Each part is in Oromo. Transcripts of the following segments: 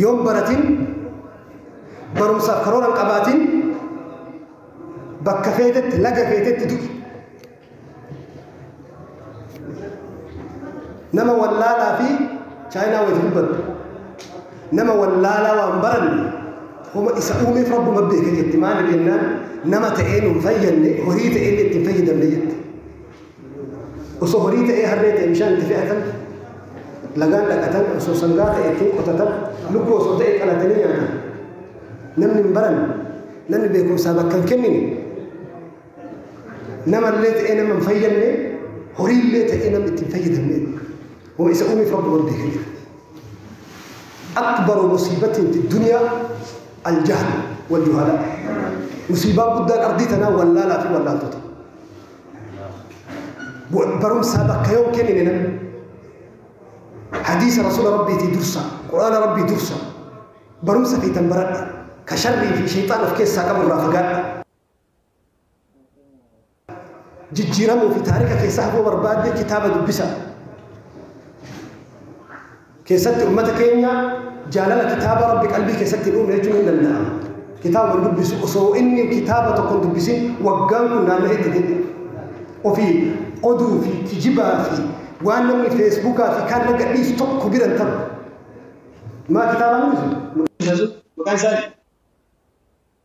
yoo hin baratin barumsaaf karoora hin qabaatin bakka feetetti laga feetetti du'i. Nama wallaalaa fi chaayinaa wayiti dubbatu. Nama wallaalaa waan baranne homa isa uumeef rabbuma beeka jetti maali jennaan nama ta'ee nu hin fayyadne horii ta'ee itti hin fayyadamne jetti. Osoo horii ta'ee harree ta'e bishaan itti fe'atan, lagaan dhaqatan, osoo sangaa ta'e ittiin qotatan, lukkuu osoo ta'e qalatanii nyaatan. Namni hin baranne, namni beekumsaa bakka hin kennine, namallee ta'ee nama hin fayyadne, horiillee ta'ee namni itti hin fayyadamne. Wama isa uumeef rabbi waan beekan jira. Akbaru musiibatiin fi duniyaa aljahl wal juhalaa. Musiibaa guddaan ardii tanaa wallaalaa fi wallaaltota. barumsaa bakka yoo kennine namni hadiisa rasuula rabbiitii dursa quraana rabbii dursa barumsa feetan baradha ka sharrii fi sheexaan of keessaa qabu irraa fagaadha jijjiiramuu fi taarika keessaa hafuu barbaadde kitaaba dubbisa keessatti ummata keenya jaalala kitaaba Rabbi qalbii keessatti hin uumne jechuun hin danda'amu. Kitaaba hin dubbisu osoo inni kitaaba tokko hin dubbisin waggaan kun naanna'ee itti deebi'a. Ofii oduu fi kijibaa fi waan namni feesbuukaa fi kaan irra gadhiisu tokko bira hin taru. Maa kitaabaan hin dubbisu? Maqaan isaa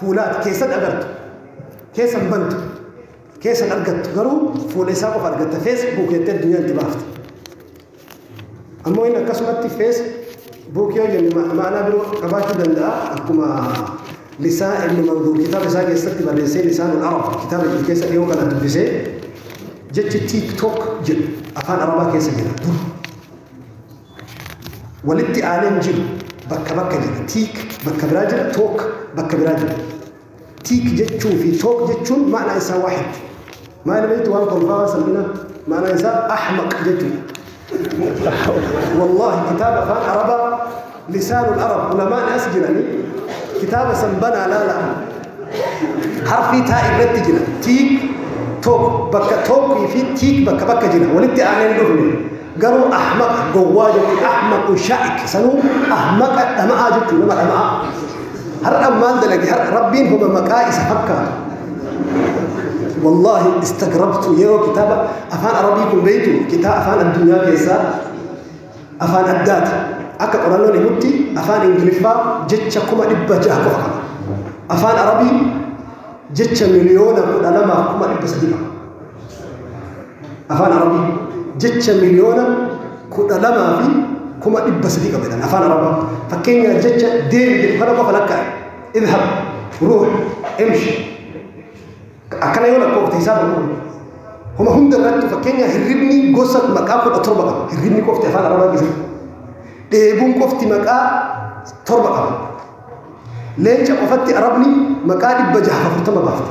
Fuula ati keessan agartu, keessan bantu, keessan argattu garuu fuula isaa qofa argatta feesbuuk jettee addunyaa itti baafte. Ammoo inni akkasumatti feesbuuk yoo jenne ma- ma'anaa biroo qabaachuu danda'a akkuma lisaa ibnu manduur kitaaba isaa keessatti barreessee lisaanul arab kitaaba jedhu keessa dhiyoo kana dubbisee jechi tiiktook jedhu afaan arabaa keessa jira dur walitti aanee hin jiru. Bakka bakka jira. Tiik bakka biraa jira. Took bakka biraa jira. Tiik jechuu fi took jechuun ma'anaa isaa waahid. Maal beektu waan kolfaa waan salphinaa ma'anaa isaa ahmaq jechuudha. Wallaahi kitaaba afaan Arabaa lisaanul Arab ulamaan as jiranii kitaaba san banaa laalaa. Harfii taa irratti jira. Tiik took bakka tookii fi tiik bakka bakka jira. Walitti aanee hin dhufne. garuu ahmaqa gowwaa jechuun ahmaqu shaa'ik sanuu ahmaqa dhama'aa jechuun nama dhama'aa har'a maal dalage har'a rabbiin homa maqaa isa fakkaatu wallaahi istagrabtu yeroo kitaaba afaan arabii kun beektu kitaaba afaan addunyaa keessaa afaan addaati akka qorannoon himutti afaan ingiliffaa jecha kuma dhibba jaha qofa qaba afaan arabii jecha miliyoona kudha lamaaf kuma dhibba sadii qaba afaan arabii jecha miliyoona kudha lamaa fi kuma dhibba sadii qabetan afaan arabaa fakkeenyaa jecha deemi jedhu kana qofa lakkaa'e idhab ruux imshi akkana yoo lakkoofte isaa baruu homa hunda irratti fakkeenyaa hirribni gosa maqaa kudha torba qaba hirribni qofti afaan arabaa keessatti dheebuun qofti maqaa torba qaba leenca qofatti arabni maqaa dhibba jaha afurtama baafte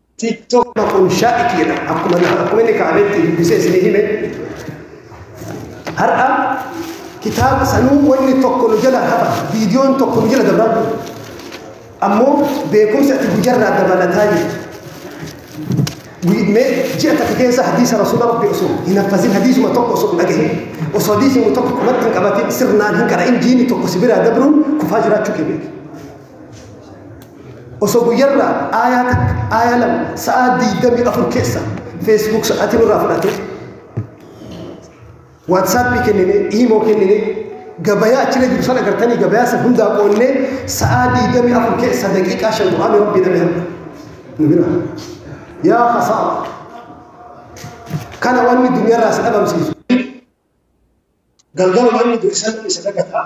TikTok kun shaa'ik jedhama. Akkuma akkuma inni kaabeetti dubbisee isinii hime. Har'a kitaaba sanuu wanni tokko nu jala hafa, viidiyoon tokko nu jala dabra. Ammoo beekumsi ati guyyaarraa dabalataa jirtu. Mee ji'a takka keessa hadiisa rasuula rabbi osoo hin haffazin hadiisuma tokko osoo hin dhagahin osoo hadiisuma tokko qubatti hin qabatin sirnaan hin qara'in jiini tokko si biraa dabruun kufaa jiraachuu kee beeki. osoo guyyarraa aayaa takka aayaa lama sa'aa diidamii afur keessa feesbuuk sa'aatii nurraa fudhatee waatsaappii kennine iimoo kennine gabayaa achirra jiru sana gartanii gabayaa san hundaa qoonnee sa'aa diidamii afur keessa daqiiqaa shan quraana rabbii dhabe hamma nu bira yaa hasaa kana wanni duniyarraa si dhabamsiisu galgala wanni durisan isa dagataa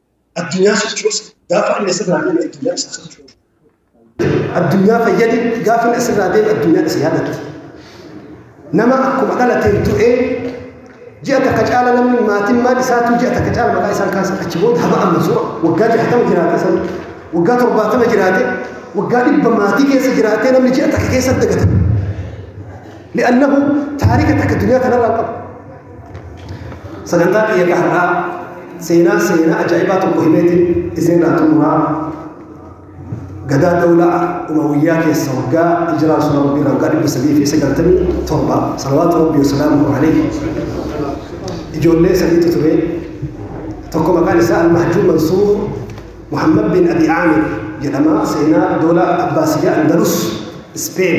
Addunyaa sochoosi gaafa inni asirraa deeme addunyaa isaa sochoosu. Addunyaa fayyadi gaafa inni asirraa deeme addunyaa isa yaadatu. Nama akkuma dhalateen du'ee ji'a takka caala namni maatiin maal isaatu ji'a takka caala maqaa isaan kaasan achi booda haba amma su'a waggaa jahatama jiraate san waggaa torbaatama jiraate waggaa dhibba maatii keessa jiraatee namni ji'a takka keessatti dagata. Li'annahu taarika takka addunyaa kanarraa qabu. Sagantaa kiyya ka har'aa seenaa seenaa ajaa'ibaa tokko himeetiin isinirraa xumuraa gadaa dawlaa umawiyyaa keessa waggaa hijiraa rasuula rabbii irraa waggaa dhibba sadii fi sagaltamii torba salawaatu rabbii wasalaamu alayhi ijoollee sadiitu ture tokko maqaan isaa almahjuu mansuur Muhammad bin Abi Aamir jedhama. Seenaa doola Abbaasiyyaa Andalus Ispeen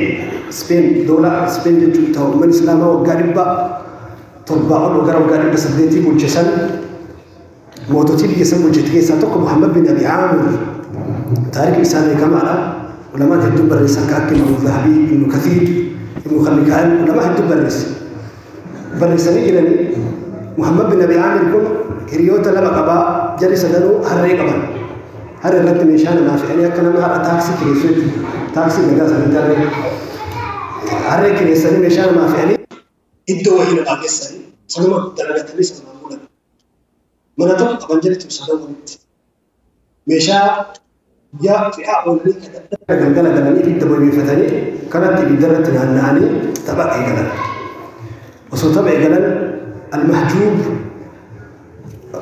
Ispeen doola Ispeen jechuun ta'u umman Islaamaa waggaa dhibba torbaa ol gara waggaa dhibba saddeetii bulche san moototii biyya san bulchite keessaa tokko Muhammad bin Abi Aamir taarikni isaa beekamaadha. Ulamaan hedduun barreessan kan akka Imaamu Zahabii, Ibnu Kathiir, Ibnu Khallikaan ulamaa hedduun barreessan. barreessanii jiranii Muhammad bin Abi Aamir kun hiriyoota lama qabaa jarri sadanuu harree qaban. Harree irratti meeshaa namaa fe'anii akka nama har'a taaksii kireessu jechuudha. Taaksii nagaa sanii tarree. Harree kireessanii meeshaa namaa fe'anii iddoo wayii namaa geessanii sanuma dalagatanii sanumaan bulan. Mana tokko qaban jedhatu sadan walitti. meeshaa guyyaa fe'aa oolanii tajaajila galgala galanii ibidda bobeeffatanii kanatti ibidda irratti naanna'anii tapha eegalan. Osoo tapha eegalan Al-Mahjuub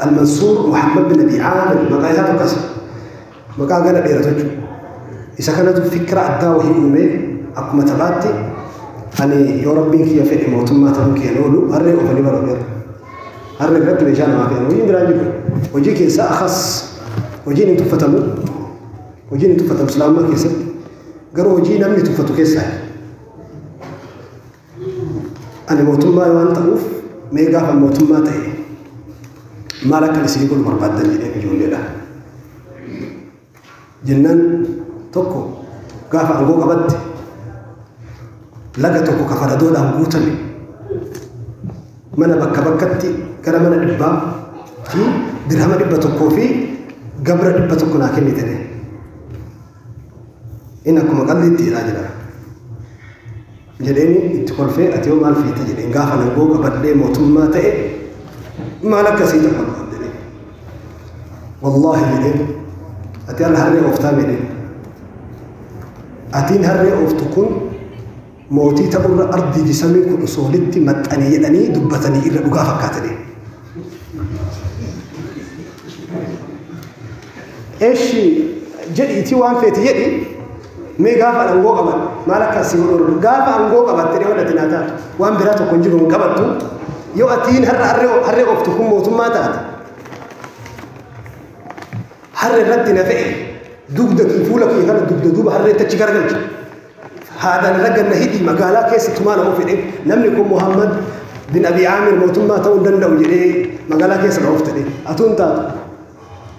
Al-Mansuur Muhammad bin Abi Aamir maqaa isaa tokkas maqaa gara dheeratu jechuudha. Isa kanatu fikira addaa wahii uumee akkuma taphaatti ani yoo rabbiin kiyya fedhe mootummaa ta'uu kiyya oolu harree oofanii bara oolu. Har'a irratti meeshaa namaa fe'an hojiin biraan jiru. Hojii keessaa akas hojiin hin tuffatamu. Hojiin hin tuffatamu islaamummaa keessatti. Garuu hojii namni tuffatu keessaa. Ani mootummaa waan ta'uuf mee gaafa mootummaa ta'e maal akka isin godhu barbaaddan jedhee ijoolleedha. Jennaan tokko gaafa aangoo qabatte laga tokko ka faradoodhaan guutame mana bakka bakkatti gara mana dhibbaa fi dirhama dhibba tokkoo fi gabra dhibba tokko naa kennite jedhe. Inni akkuma qalliitti jedhaa jira. jedheeni itti kolfee ati hoo maal feeta jedheen gaafa nangoo qabadhee mootummaa ta'e maal akkasii ta'u barbaadde jedheen wallaahi jedheen ati ala harree ooftaa jedheen atiin harree ooftu kun mootii ta'urra ardii jisamii kun osoo walitti maxxane jedhanii dubbatanii irra dhugaa fakkaatanii Eshi jedhi iti waan feeti jedhi mee gaafa angoo qaban maal akka si godhu gaafa angoo qabatte dhiyoo dhati naa taatu waan biraa tokko hin jiru hin qabattu yoo atiin har'a harree harree ooftu kun mootummaa taate harree irratti na fe'e dugda kee fuula kee kana dugda duuba harreetti achi garagalcha haadaan irra ganna hidhii magaalaa keessa tumaa nama fedhe namni kun Muhammad bin Abi Aamir mootummaa ta'uu hin danda'u jedhee magaalaa keessa na oofte atuu hin taatu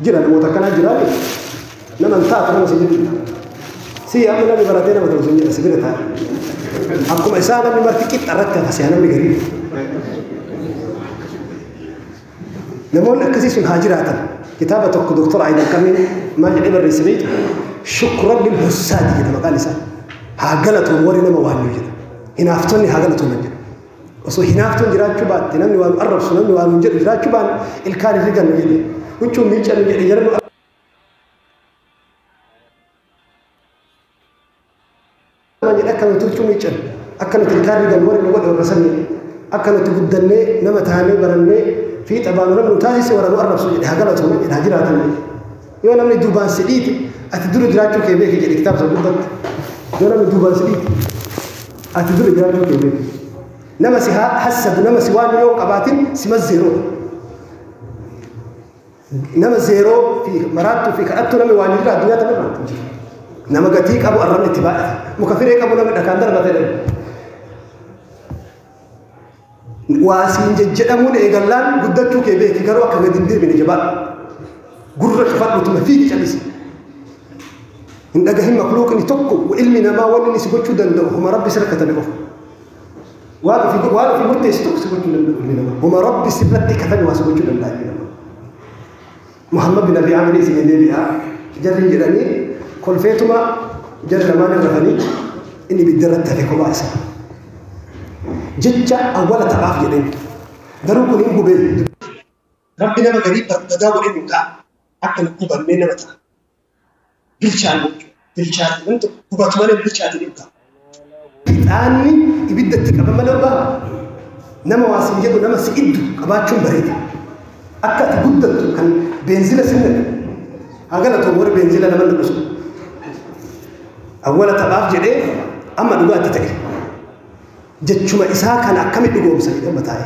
Jira namoota akkanaa jiraa jiru. Nama hin taatu nama si jedhu. Si amma namni baratee nama ta'u sin jedha si bira ta'a. Akkuma isaa namni marti qixxa irratti hafa si'a namni gadi. Namoonni akkasii sun haa jiraatan. Kitaaba tokko Dooktor Ayidan Kamiin maal jedhee barreesse beektu? Shukran lil hussaati jedha maqaan isaa. Haa galatoon warri nama waannu jedha. Hinaaftonni haa galatoon jedha. Osoo hinaaftuun jiraachuu baatte namni waa nu arrabsu namni waa nuun jedhu jiraachuu baanne ilkaan hin rigannu jedhe. Huccuun miiccannu jedhe jara nu arrabsan jedhe akka nuti huccuu miiccannu akka nuti ilkaan rigannu warri nu godhe warra san jedhe. Akka nuti guddannee nama taanee barannee fiixa baanu namni nu taasise warra nu arrabsu jedhe haa galatooman jedhe haa jiraatan jedhe. Yoo namni duubaan si dhiite ati dura jiraachuu kee beeki jedhe kitaaba sana gubbatti. Yoo namni duubaan si dhiite ati dura jiraachuu kee beeki. Nama si ha- hassadu nama si waan yoo hin qabaatin si mazzeeroo. Nama zeeroo fi maraattuu fi kadhattuu namni waan jira addunyaa tana irratti hin jiru. Nama gatii qabu arrabni itti baay'ata. Muka firee qabu namni dhakaan darbata jedhama. Waa siin jejjedhamuun eegallaan guddachuu kee beeki garuu akka gadi hin deebine jabaadhu. Gurra cufadhu tuma fiigi calisi. Hin dhagahin makluuqni tokko ilmi namaa waan inni si gochuu danda'u homa rabbi sirra katabe qofa. Waan ofii waan ofii murteessi tokko si gochuu danda'u ilmi namaa homa rabbi sirratti katabe waa si gochuu danda'a ilmi namaa. Muhammad bin Abi Amri isinii deebi'a jarri jedhanii kolfeetuma jarri lamaan rafanii inni ibidda irratti hafe kophaa isaa. Jecha awwala taphaaf jedheen garuu kun hin gubee. Rabbi nama garii barbadaa godhee nu ta'a akka nu gubannee nama ta'a. bilchaanne jechuudha. Bilchaate wanti tokko gubatu malee hin bilchaate hin ta'a. Ixaanni ibidda itti qaban malee dhugaa nama waa siin jedhu nama si iddu qabaachuun bareeda. Akka ati guddattu kan beenzila sin naqu. Haa galatu warri beenzila nama naqu sun. Awwala taphaaf jedhee amma dhugaatti ta'e. Jechuma isaa kana akkami dhugoomsa jedhama taa'e.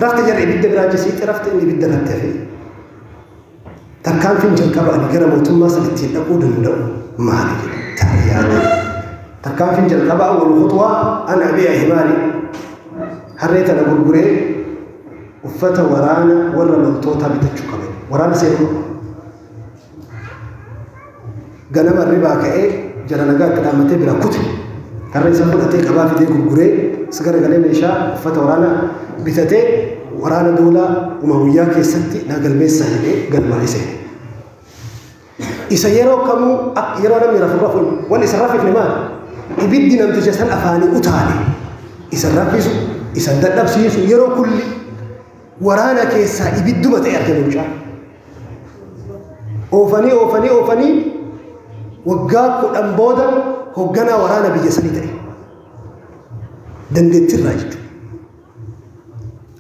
Rafte jarri ibidda biraa jisiitti rafte inni ibidda irratti hafee. Tarkaanfiin jalqaba ani gara mootummaa san ittiin dhaquu danda'u maali jedhe taa'ee yaada. Tarkaanfiin jalqabaa wal khuxwaa an abi'a himaari. Harree tana gurguree uffata waraana warra loltootaa bitachuu qabe. Waraana seenuu qaba. Ganama hirribaa ka'ee jara nagaa itti dhaammatee biraa kute. Karra isaa fudhatee qabaa fidee gurguree as garagalee meeshaa uffata waraanaa bitatee waraana doolaa Umawiyyaa keessatti naa galmeessaa jedhee galmaa'ee seene. Isa yeroo kamuu akka yeroo namni rafu rafuun waan isa rafifne maali? Ibiddi namticha san afaanii utaale. Isa rafisu, isa dadhabsiisu yeroo kulli waraana keessaa ibidduma ta'e argame mucaan. Oofanii oofanii oofanii waggaa kudhan booda hoogganaa waraana biyya sanii ta'e. Dandeettirraa jechuudha.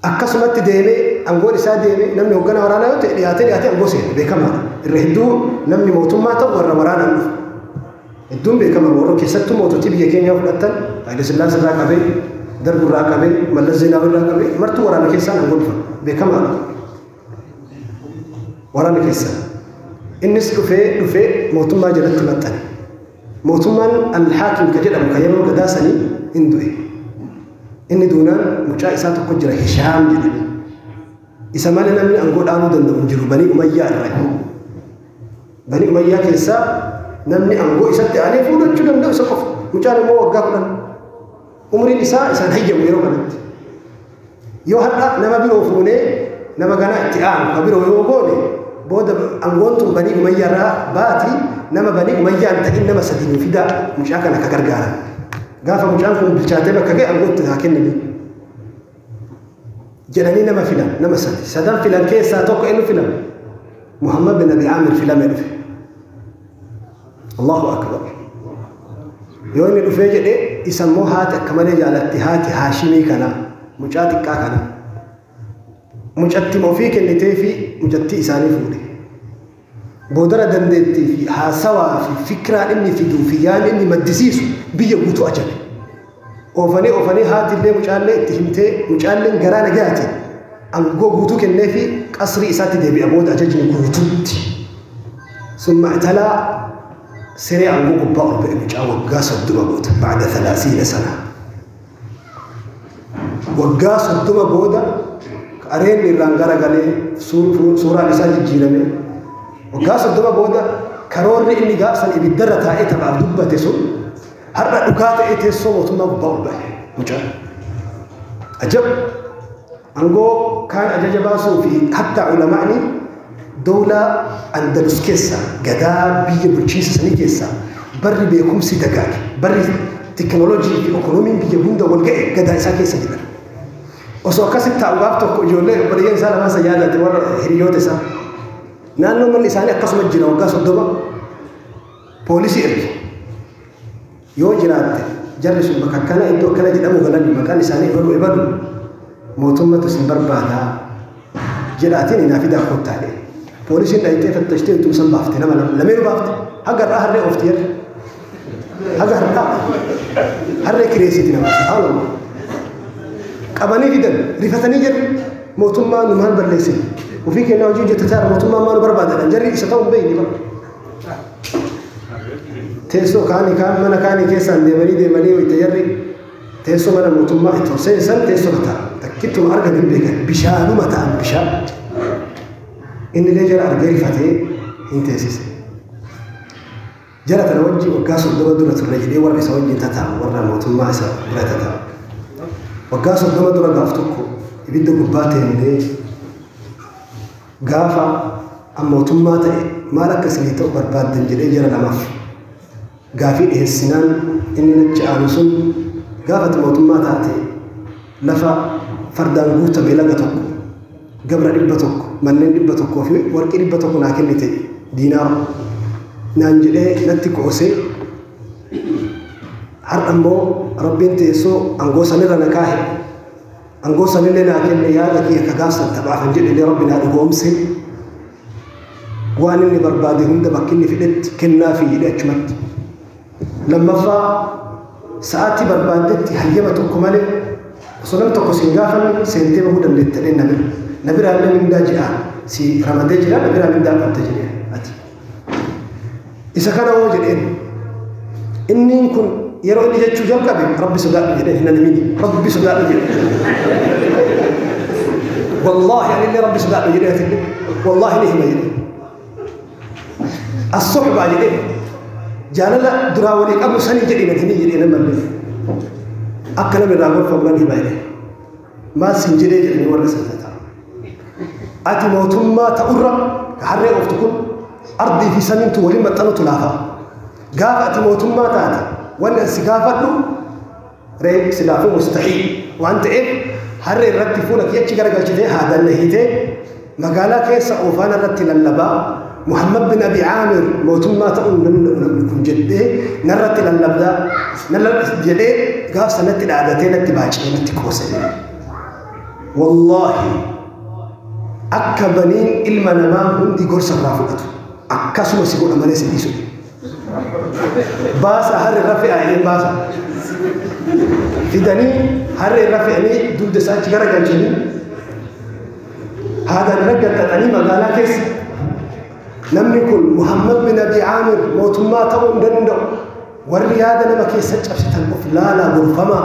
Akkasumatti deemee aangoon isaa deemee namni hoogganaa waraanaa yoo ta'e dhiyaatee dhiyaatee aangoo seena beekamaadha. Irra hedduu namni mootummaa ta'u warra waraanaan dhufu. Hedduun beekaman warra keessattuu moototii biyya keenyaa fudhattan Haayile Sillaasee irraa qabee, Darg irraa qabee, Mallas Zeenaawii irraa qabee martuu waraana keessaan aangoo dhufan. Beekamaadha. Waraana keessaan. Innis dhufee dhufee mootummaa jalatti maxxane. Mootummaan Al-Haakim ka jedhamu ka yeroo gadaa sanii hin du'e. Inni duunaan mucaa isaa tokko jira Hishaam jedhame. Isa malee namni aangoo dhaabuu danda'u hin jiru banii Umayyaa irraa. Banii Umayyaa keessaa namni aangoo isatti aanee fuudhachuu danda'u isa qofa. Mucaan immoo waggaa kudhan. Umriin isaa isaan hayyamu yeroo kanatti. Yoo har'a nama biroo fuunee nama ganaa itti aanu ka biroo yoo goone booda aangoon tun banii Umayyaa irraa baati nama banii Umayyaa hin ta'in nama sadii nu fidaa mucaa kana ka gargaaran. Gaafa mucaan kun bilchaatee bakka ga'e aangoo itti haa kennanii. jedhanii nama filan nama sadi sadan filan keessaa tokko eenyu filame muhammad bin abi aamir filame dhufe allahu akbar yoo inni dhufee jedhe isa immoo haati akka malee jaalatti haati haashimii kana mucaa xiqqaa kana mucatti ofii kennitee fi mucattii isaanii fuudhe Boodara dandeettii fi haasawaa fi fikiraa inni fiduu fi yaada inni maddisiisu biyya guutuu ajabe. Oofanii oofanii haati illee mucaa illee itti himtee mucaa illeen garaa nagayaatiin angoo guutuu kenneefii qasrii isaatti deebi'a booda ajajni guutuutti. Summa italaa siree angoo gubbaa ol ba'e mucaa waggaa soddoma guute ba'da thalaathiina sana. waggaa soddoma booda qareen irraan garagalee suuraan isaa jijjiirame waggaa soddoma booda karoorri inni gaafsan ibiddarra taa'ee taphaaf dubbate sun har'a dhugaa ta'ee teessoo mootummaa gubbaa ol bahe mucaan ajab Angoo kaan ajaja baasuu fi hattaa ulama'ni dowlaa Andalus keessaa, gadaa biyya bulchiinsa sanii keessaa, barri beekumsi dagaage, barri teknolojii fi okonomiin biyya hunda wal ga'e gadaa isaa keessa jiran. Osoo akkasi taa'u gaaf tokko ijoollee obboleeyyan isaa lamaan san yaadate warra hiriyoota isaa. Naannoo manni isaanii akkasuma jira waggaa soddoma poolisii erge. Yoo jiraatte jarri sun bakka akkana iddoo akkana jedhamu galani maqaan isaanii ebalu ebalu mootummatu isin barbaada jedhaatiin inaa fidaa kottaa jedhe. Poolisiin dhayxee fattashtee ittuma san baafte nama lama lameen baafte haga har'aa harree oofti jarri. Haga har'aa harree kireessiti nama subhaanallah. Qabanii fidan rifatanii jarri mootummaa nu maal balleessine ofii kennaa hojii hojjettataa mootummaa maal barbaadadha jarri isa ta'u hin beekne bara. Teessoo kaanii kaan mana kaanii keessaan deemanii deemanii wayita jarri teessoo mana mootummaa itti ol seensan teessoo ta'a. Takkittuma argan hin beekan bishaanuma ta'an bishaan. Inni illee jara argee rifatee hin teessise. Jara kana wajjin waggaa soddoma dura turre jedhee warra isa wajjin tataa'u warra mootummaa isa bira tataa'u. Waggaa soddoma dura gaaf tokko ibidda gubbaa teennee Gaafa an mootummaa ta'e maal akka isinii ta'u barbaaddan jedhee jara lamaaf gaafii dhiheessinaan inni nachi aanu sun gaafa ati mootummaa taate lafa fardaan guutame laga tokko gabra dhibba tokko manneen dhibba tokkoo fi warqii dhibba tokko naa kennite diinaara naan jedhee natti qoosee har'a immoo rabbiin teessoo angoo sanirra na kaahe Angoo sanillee naa kenne yaada kiyya ka gaafsan taphaa kan jedhellee rabbi naa dhugoomse waan inni barbaade hunda bakki inni fedhetti kennaa fi jedhe achumatti. Lammaffaa sa'aatii barbaaddetti hayyama tokko malee osoo nam tokko siin gaafanne seentee bahuu dandeettadhee na bira. Na biraallee mindaa ji'aa si ramadee jira na biraa mindaa qabda jedhe ati. isa kana hoo jedheen inniin kun yeroo inni jechuu jalqabe rabbi sodaadhu jedheen hin animini rabbi sodaadhu jedhe wallaahi anillee rabbi sodaadhu jedhe atillee wallaahi ni hima jedhe as-suhbaa jedhe jaalala duraa walii qabu sanii jedhe hin himi jedhe nama akka nama irraa gorfamu nan hima jedhe Maal siin jedhee jedhanii warra san nyataan. Ati mootummaa ta'urra ka harree ooftu kun ardii fi samiintu waliin maxxanutu laafa. Gaafa ati mootummaa taate wanni an si gaafadhu ree silaafuu mustahiil waan ta'eef harree irratti fuula kee achi garagalchitee haadaan na hiitee Magaalaa keessa oofaan irratti lallabaa, Muhammad bin Abi Aamir mootummaa ta'uu hin danda'u namni kun jedhee narratti lallabdaa, lallabda jedhee gaaf sanatti dhaadatee natti baacee natti qoose. Wallaahi akka baniin ilma namaa hundi gorsa irraa fudhatu akkasuma si godha malee si dhiisu. baasa harri irra fe'aa jedhee baasa fidanii harri irra fe'anii dugda isaa achi gara galchanii haadaan irra gattaxanii magaalaa keessa namni kun Muhammad bin Abi Amir mootummaa ta'uu hin danda'u warri yaada nama keessa cabsitan of laalaa gorfamaa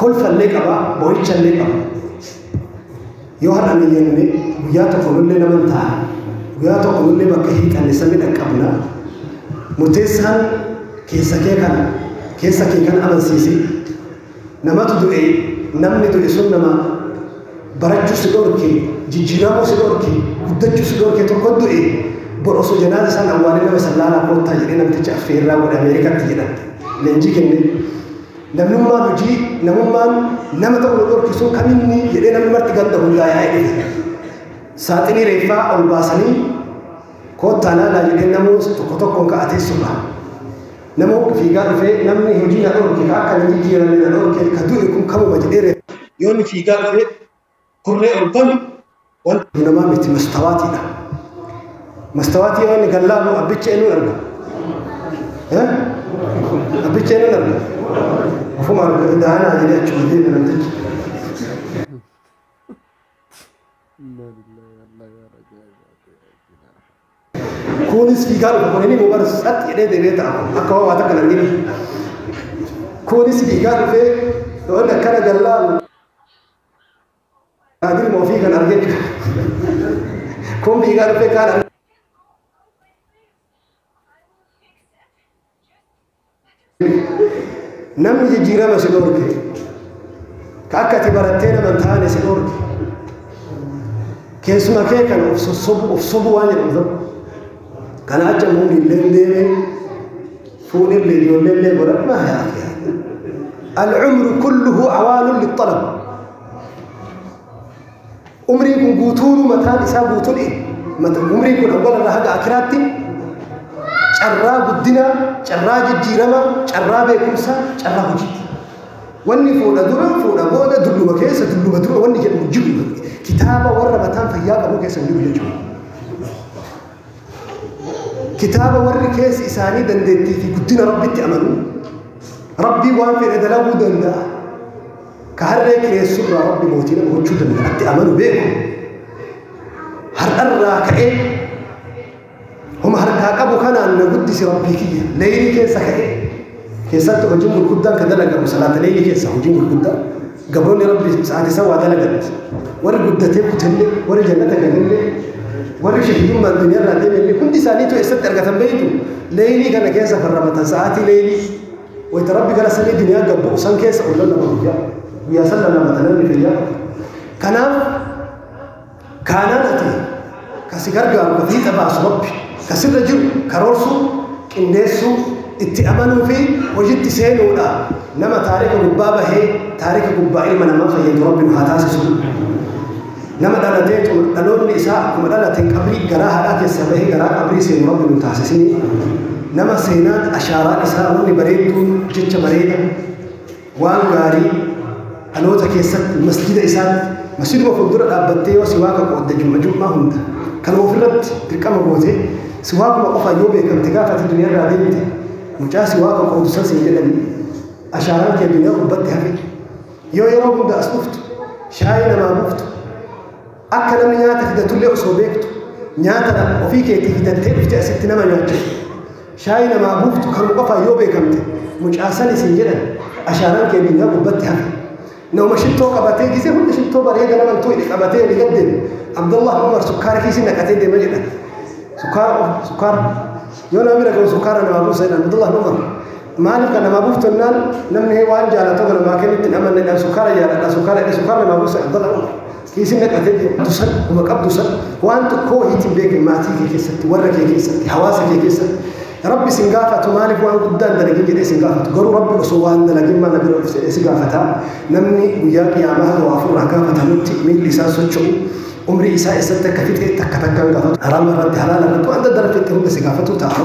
kolfallee qaba, boo'ichallee qaba. Yoo har'a ni jenne guyyaa tokko nullee nama hin ta'a. Guyyaa tokko nullee bakka hiixanne sanni dhaqqabna. Murteessaan keessa kee kana keessa kee kana amansiisi. Namatu du'e namni du'e sun nama barachuu si dhorke jijjiiramuu si dhorke guddachuu si dhorke tokko du'e bor osoo janaaza isaan awwaalee nama sallaalaa koottaa jedhee namticha affeerraa godhe Ameerikaatti jedhan leenjii kennee. Namnummaan hojii namummaan nama ta'u nu dhorkisu kan inni jedhee namni marti ganda hundaa yaa'ee dhiyeessa. Saaxinii reeffaa ol baasanii koottaa laalaa jedhee namoos tokko tokkoon ka'a teessuma. Nama hundi fiigaa dhufee namni hojii na dhorke ka akka na jijjiirame na dhorke ka du'e kun kamuma jedhee reeffa. Yoo inni fiigaa dhufee Kurree ol banu wanta namaa miti mastawaatiidha. Mastawaatii yoo inni kan laalu abbicha eenyuun arga? Eh? Abbicha eenyuun arga? Ofuma arga daanaa jedhee achuma deema namtichi. Kunis fiigaa dhufa kun inni nu barsiisa satti jedhee deemee ta'a akka homaa takka nan gini. Kunis fiigaa dhufee yoo inni akkana gallaalu Kaadir ma ofii kan argee kombii kan dhufee kaan namni jijjiirama si dhorke ka akka ati barattee nama hin taane si dhorke keessuma kee kan of sossobu of sobu waan jedhamu tokko kana acha muummiin deemee Fuunille ijoolleellee godhan maa yaa akhi Al-umru kulluhu awaalun lixxalab. Umriin kun guutuun mataan isaa guutuun umriin kun awwala irraa haga akiraatti carraa guddinaa, carraa jijjiiramaa, carraa beekumsaa, carraa hojiiti. Wanni fuudha dura, fuudha booda, dulluma keessa, dulluma dura wanni jedhamu jiru kitaaba warra mataan fayyaa qabu keessa hin jiru jechuudha. kitaaba warri keessi isaanii dandeettii fi guddina rabbitti amanu rabbii waan fedhe dalaguu danda'a ka harree kireessuu irraa rabbi mootii nama gochuu danda'atti amanu beeku har'arraa ka'ee homa harkaa qabu kanaan na guddisi rabbii kiyya leeyni keessa ka'ee keessatti hojiin gurguddaan kan dalagamu salaata leeylii keessa hojiin gurguddaa gabroonni rabbi sa'aati isaa waa dalaganati warri guddatee kutellee warri jannata galallee warri shahidummaa addunyaa irraa deemallee hundi isaaniitu eessatti argatan beeytu leeylii kana keessa kan ramatan sa'aatii leeylii wayta rabbi gara samii duniyaa gabbu san keessa ol lallaba guyyaa guyyaa san lallabata namni kiyyaa kanaaf Kaanaan ati ka si gargaaru ka fiixa baasu Rabbi, ka sirra jiru karoorsuu, qindeessuu, itti amanuu fi hojitti seenuudha. Nama taarika gubbaa bahee taarika gubbaa ilma namaa fayyadu Rabbi nu haa taasisu. Nama dhalatee xumur- dhaloonni isaa akkuma dhalateen qabrii garaa haadhaa keessaa bahee garaa qabrii seenu Rabbi nu taasisini. Nama seenaan ashaaraan isaa wanni bareedduun jecha bareeda waan gaarii dhaloota keessatti masjida isaatti masjiduma fuuldura dhaabbattee yoo siwaaka qoodde jumma jummaa hunda kan ofirratti dirqama goote siwaakuma qofa yoo beekamte gaafa ati duniyarraa deemte mucaa siwaaka qoodu san siin jedhani ashaaraan kee duniyaa gubbatti hafe yoo yeroo hunda as dhuftu shaayii namaa buuftu Akka namni nyaata fidatullee osoo beektu nyaata nama ofii keetii fidattee dhufte asitti nama nyaachisu. Shaayii namaa buuftu kan qofaan yoo beekamte mucaa san isin jedhan ashaaraan kee miinaa gubbatti hafe. Nama shittoo qabatee gisee hunda shittoo bareeda nama hin tuqne qabatee ni gaddeeme. Abdullah Umar sukkaara kiisii naqatee deema jedha. Sukkaara qofa sukkaara. Yoo nama bira gahu sukkaara namaa buusa jedhan Abdullah Umar. Maaliif kan namaa buuftu jennaan namni waan jaalatu kan namaa kennutti hin amanne jedhan sukkaara jaaladha sukkaara jedhe sukkaara namaa buusa Abdullah Umar. Isin dhaqate deemtu san dhuma qabdu san waan tokkoo wahiitti hin beekne maatii kee keessatti warra kee keessatti hawaasa kee keessatti rabbi isin gaafatu maaliif waan guddaa hin dalagin jedhee isin gaafatu garuu rabbi osoo waan dalagin maal bira dhufte jedhee si gaafata namni guyyaa qiyaamaa hawa ofirraa gaafatamutti miilli isaa socho'u umrii isaa eessatti akka fixeetti akka takkaan gaafatu haraama irratti halaala irratti waan daddarafetti hunda si gaafatu ta'a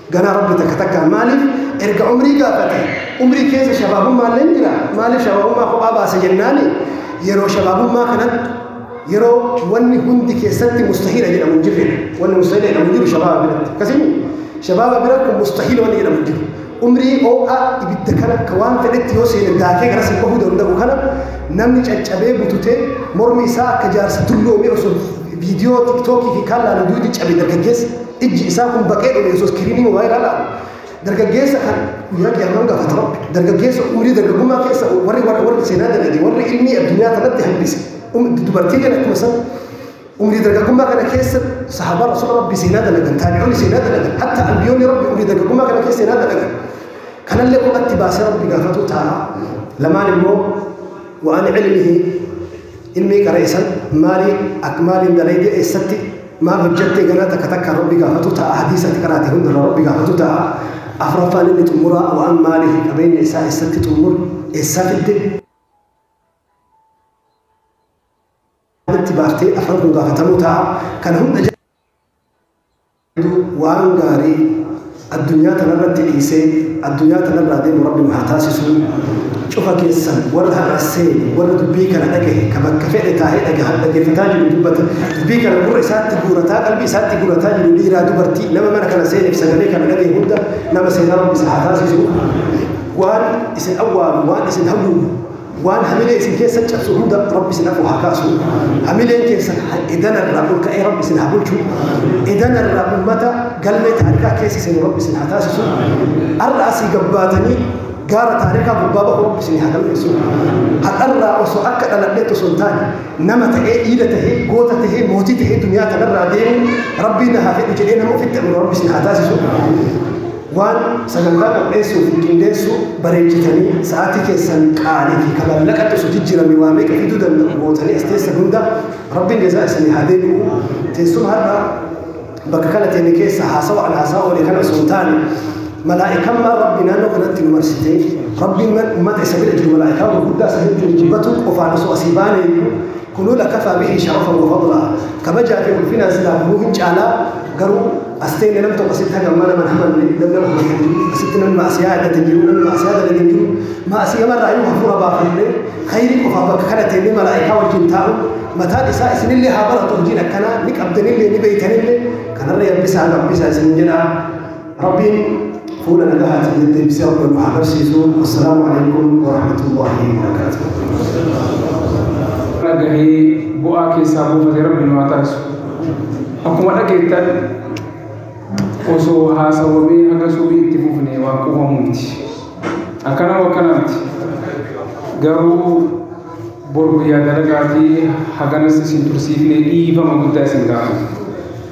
Ganaa rabbi takka takkaa maaliif erga umrii gaafate umrii keessa shabaabummaalleen jira maaliif shabaabummaa kophaa baase jennaani yeroo shabaabummaa kanatti yeroo wanni hundi keessatti mustahiila jedhamu hin jirre wanni mustahiila jedhamu hin jiru shabaaba biratti akkasii shabaaba bira kun mustahiila wanni jedhamu hin jiru umrii oo'a ibidda kana ka waan fedhetti yoo seene daakee gara sin bahuu danda'u kana namni caccabee bututee mormi isaa akka jaarsa tulloomee osoo viidiyoo tiktookii fi kaan laalu duuti cabe dargaggeessa Ijji isaa kun baqee dhume Yesuus kiriimii waa ilaalaan dargaggeessa kan guyyaa qiyaamaan gaafata rabbi dargaggeessa umurii dargaggummaa keessa warri warra warri seenaa dalage warri ilmi addunyaa kanatti hambise dubartii kana akkuma san umurii dargaggummaa kana keessa sahaabaa rasuula rabbi seenaa dalagan taabi'oonni seenaa dalagan hatta anbiyoonni rabbi umurii dargaggummaa kana keessa seenaa dalagan kanallee qubatti baasee rabbi gaafatu ta'a lamaan immoo waan ilmihi ilmii qara'e san maalii akka maaliin dalagee eessatti Maal hojjattee ganaa takka takkaan Rabbi gaafatu ta'a, hadiisa ati qaraate hundarraa Rabbi gaafatu ta'a. Afraffaan inni xumuraa waan maalii fi qabeenya isaa eessatti xummure, eessaa fidde, itti baaftee afran kun gaafatamuu ta'a. Kana hunda jala waan gaarii. Addunyaa tanarratti dhiisee addunyaa tanarraa deemu Rabbi nu haa taasisuu. Cufa keessan warra har'a seene, warra dubbii kana dhagahe, ka bakka fedhe taa'ee dhagaha, dhaggeeffataa jiru, dubbata, dubbii kana gurra isaatti guurataa, qalbii isaatti guurataa jiru, dhiiraa, dubartii, nama mana kana seeneef sagalee kana dhagahe hunda nama seenaa Rabbi isa haa taasisuu. Waan isin awwaalu, waan isin haguugu, Waan hamilee isin keessan cabsu hunda Rabbi isin afur haa kaasu. Hamileen keessan edana irraa ol ka'ee Rabbi isin haa bulchu. Edana irraa uummata galmee taarikaa keessa isin Rabbi isin haa taasisu. Har'a asii gabbaatanii gaara taarikaa gubbaa bahu Rabbi isin haa galmeessu. Har'arraa osoo akka dhaladheetti osoo hin taane nama ta'ee dhiira ta'ee goota ta'ee mootii ta'ee duniyaa kanarraa deemu Rabbiin na haa fedhu jedhee nama ofitti amanu Rabbi isin haa taasisu. Waan sagantaa qopheessuu fi qindeessuu bareechitanii sa'aatii keessan qaalii fi ka mallaqa tusu jijjiramee waa meeqa fiduu danda'u gootanii as teessan hunda Rabbiin jazaa isanii haa deebi'u. Teessuma har'a bakka kana teenne keessa haasawa an haasawa oole kana osoo hin taane malaa'ikammaa Rabbi naannoo kanatti nu marsitee Rabbiin ummata isa bira jiru malaa'ikaa gurguddaa isa hedduun jibbatu qofaan osoo asii baanee Kunuu lakafaa bihi sharafan wa fadlaa kabajaa fi ulfinaan silaa kunuu hin caalaa garuu as teenne nam tokko asitti haga ammaa nama hin hamanne nam nama hamate hin jiru asitti namni ma'asiyaa yaadate hin jiru namni ma'asiyaa dalage hin jiru ma'asiyama irraa yoo hafuura baafannee khayrii qofaaf bakka kana teennee malaa'ikaa wajjin taa'u mataan isaa isinillee haa baratu hojiin akkanaa ni qabdanillee ni beeytanillee kanarra yabbisaa gabbisaa isin jedhaa Rabbiin fuula nagahaatiin deddeebisee akka nu haa barsiisu. Assalaamu alaikum warahmatullahi wabarakaatuh. dhagahee bu'aa keessaa buufate rabbi nu haa taasisu. Akkuma dhageettan osoo haasawamee haga subii itti fufne waan quufamu miti. Akkana akkana miti. Garuu bor guyyaa dalagaatii haganas isin tursiifne dhiifama guddaa isin gaafata.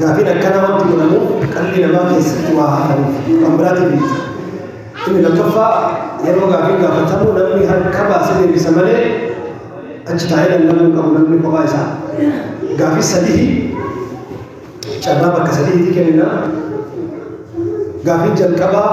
Gaafiin akkanaa wanti godhamu qalbii namaa keessatti waa hafanuuf kan biraatiif miti. Inni lammaffaa yeroo gaafiin gaafatamu namni harka baasee deebisa malee achi taa'ee lallabuu hin qabu namni kophaa isaa. Gaafii sadii carraa bakka sadiitti kennina. Gaafiin jalqabaa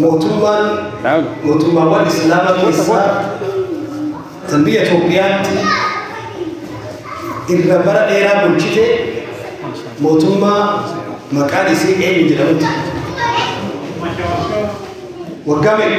Mootummaan mootummaawwan Islaamaa keessaa kan biyya Itoophiyaatti irra bara dheeraa bulchite mootummaa maqaan isii eenyu jedhamutti. Waggaa meeqa?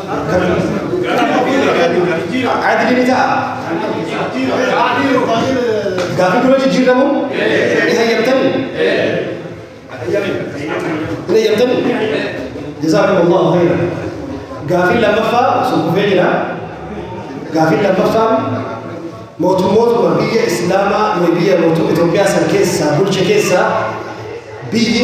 Adili ni ta'a. Gaaffii dura jijjiiramu ni hayyamtani? Ni hayyamtani? Jazaakumullahu khairan. Gaaffii lammaffaa sun kufee jira. Gaaffii lammaffaa mootummootuma biyya Islaamaa biyya mootummaa Itoophiyaa san keessaa bulche keessaa biyyi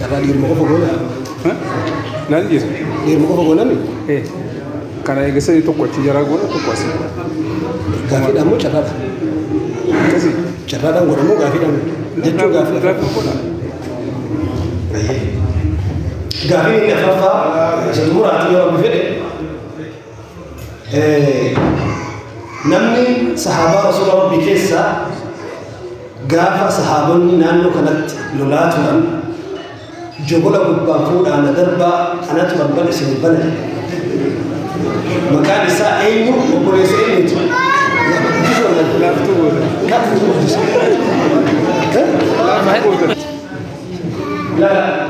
Taphaa dhiiruma qofa goona. Laal dhiisa. Dhiiruma qofa goonami. Eh, Kana eegasanii tokko achi jaraa goona tokko asi. Gaaffiidhaan moo carraadha? Akkasi. Carraadhaan godha moo gaaffiidhaan godha? Jechuun gaaffi lafa. Gaaffii godha. Gaaffiin inni afaffaa isa xumuraati yoo rabbi fedhe namni sahaabaa rasuula rabbii keessaa gaafa sahaabonni naannoo kanatti lolaa turan jogola gubbaan fuudhaan na darbaa anatu balbal isin bana maqaan isaa eenyu obboleessa eenyuti Lala.